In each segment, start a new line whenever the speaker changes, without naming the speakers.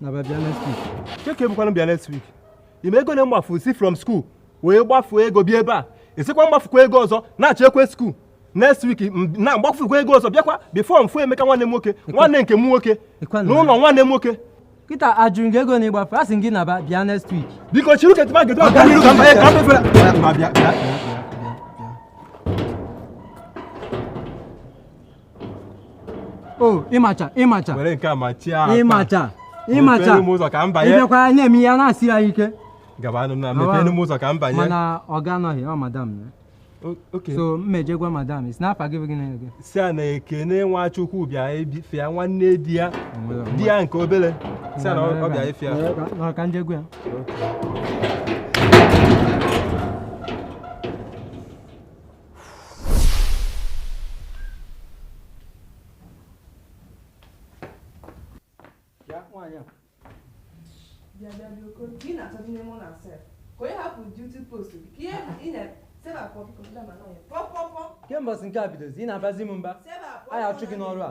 na bịa next week kee ke bụkwanụ bịa next week ị ma ego na-agbafu si from school wee gbafuo ego bịa ebe a ị sịkwa m gbafukwa ego ọzọ nachikwa school next week na m gbafukwa ego ọzọ bịakwa before m fụ Emeka nwanne m nwoke nwanne nke m nwoke n'ụlọ nwanne m nwoke kịta ajụrụ gị ego na ịgbafu a sị gị naba bịa next week biko chiri uche tụba gedo ọga n'iru ka m banye ka mefere o ịmacha ịmacha were nke a machie aka ịmacha ịmacha mepere m ụzọ ka m banye ịbịakwa ya na-eme ya na-asị ya ike gabanụ na mepere m ụzọ ka m banye mana ọga anọghị ọ madam ya O- okay so m je gwa madam sị n'afa gị bụ gịnị gị sị ya na Ekene Nwachukwu bịa ebi- fụ ya nwanne di ya di ya nke obere sị ya na ọ ọ bịa ịfụ ya nọrọ ka m je gwa ya ke mbọsị nke a bidozi ị na-abazi m mba a ya-achụ gị n'ọrụ a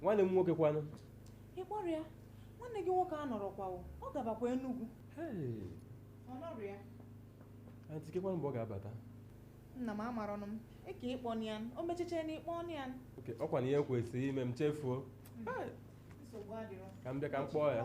nwanne m nwoke kwanụ ị kpọrọ ya nwanne gị nwoke anọrọkwa o, ọ gabakwa Enugu Hey, ọ nọrọ ya antị kekwanụ mgbe ọ ga-abata nna m amarọnụ m ị ka ịkpọ ya o m echiche na ị kpọ ya oke ọkwa na ihe kwesịrị ime m chefuo nsogbu adịrọ ka m bịa ka m kpọọ ya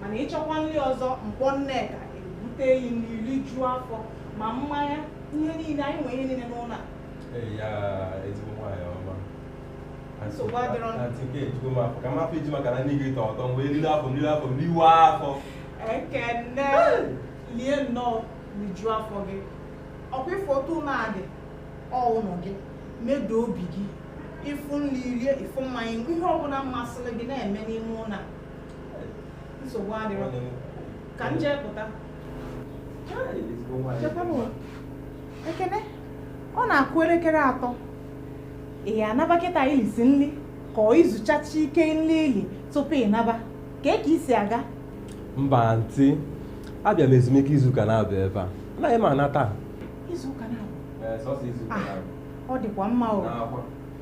mana ị chọkwa nri ọzọ m kpọọ Nneka ebute yi nri i rijuo afọ ma mmanya ihe niile anyị nwere ihe niile n'ụlọ a Ee, ya ezigbo nwaanyị ọma Nsogbu adịrọ na- Aunty Kay, ejugo m afọ ka m afọ iji maka na nri gị tọ ụtọ mgbe eriri afọ m riri afọ m riwe afọ ekene lie nnọọ rijuo afọ gị ọkwa ị fụ otu ụlọ a dị ọ ụlọ gị medo obi gị ị fụ nri rie ị fụ mmanya ihe ọbụla masịrị gị na-eme n'ime ụlọ a nsogbu adịrọ ka m jee pụta Ekene ọ na-akụ elekere atọ ị ya-anaba kịta i lisi nri ka ọ i zuchacha ike nri i li tupu ị naba kee ka i si aga mba antị abịa m ezumike izuụka naabọ ebe a anaghị m ana taa izuụka naabọ ọ dịkwa mma o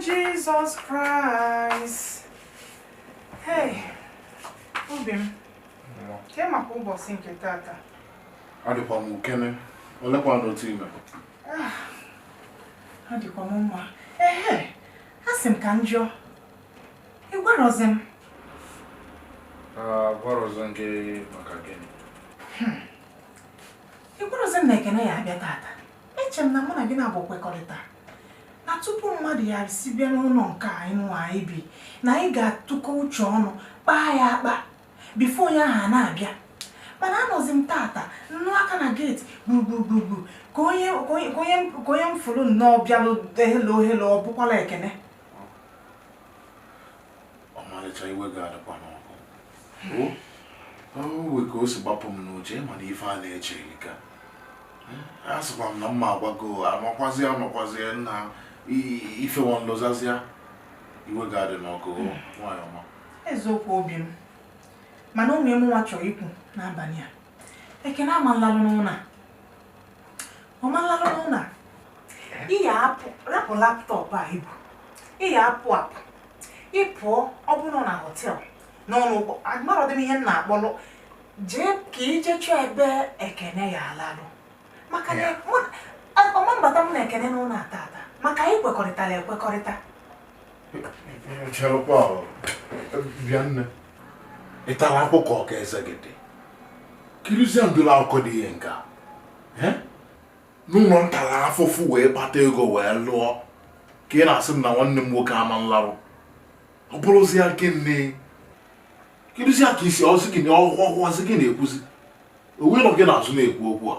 Jesus Christ. Hey, obi m. Ke maka ụbọsị nke tata. Adịkwa m okay nne. Olekwanụ otu i me? Ah, adịkwa m mma. Ehe, a sị m ka m jụọ. Ị gwarọzi m? Agwarọzi m gị maka gịnị? Hmm. Ị gwarọzi m na Ekene ya-abịa tata. Eche m na mụ na gị naabọ kwekọrịta na tupu mmadụ ya si bịa n'ụnọ nke anyị nwa anyị bi na anyị ga-atụkọ uche ọnụ kpaa ya akpa before onye ahụ a na-abịa mana anọzi m tata nnụ aka na gate gburugburu ka onye m fụlụ nnọọ bịalụ helo helo ọ bụkwala Ekene ọmalịcha iwe gị adịkwana ọkụ wee ka o si gbapụ m n'uche mana ife a na-eche ka a sịkwa m na mụ agwago amakwazi amakwazi m na ife nwa m lozọzia iwe gị adịna ọkụ nwanyị ọma eziokwu obi m mana ife mụnwa chọrọ ikwu n'abanị a Ekene ama nlalụ n'ụnọ ọ ma larụ n'ụnọ a ị ya-apụ rapụ laptop a ị bu ị ya-apụ apụ ị pụọ ọ bụrụ na hotel n'ụnọ ụgbọ amarọdị m ihe m na-akpọrọ jee ka ị jee chọọ ebe Ekene ya-alalụ maka na mụ- a- ọ ma mbata m na Ekene n'ụnọ a tata maka anyị kwekọrịtara ekwekọrịta ị tara akpụkọ ọka eze gị dị kirizie ndụlọ akụkọ dị ihe nke a n'ụlọ m tara afụfụ wee kpata ego wee lụọ ka ị na-asị m na nwanne m nwoke ama nlarụ ọ bụrụzie nke nne kirizie ka isi ọzọ gị na ọhụhụ ọzọ gị na-ekwuzi onye nọ gị n'azụ na-ekwu okwu a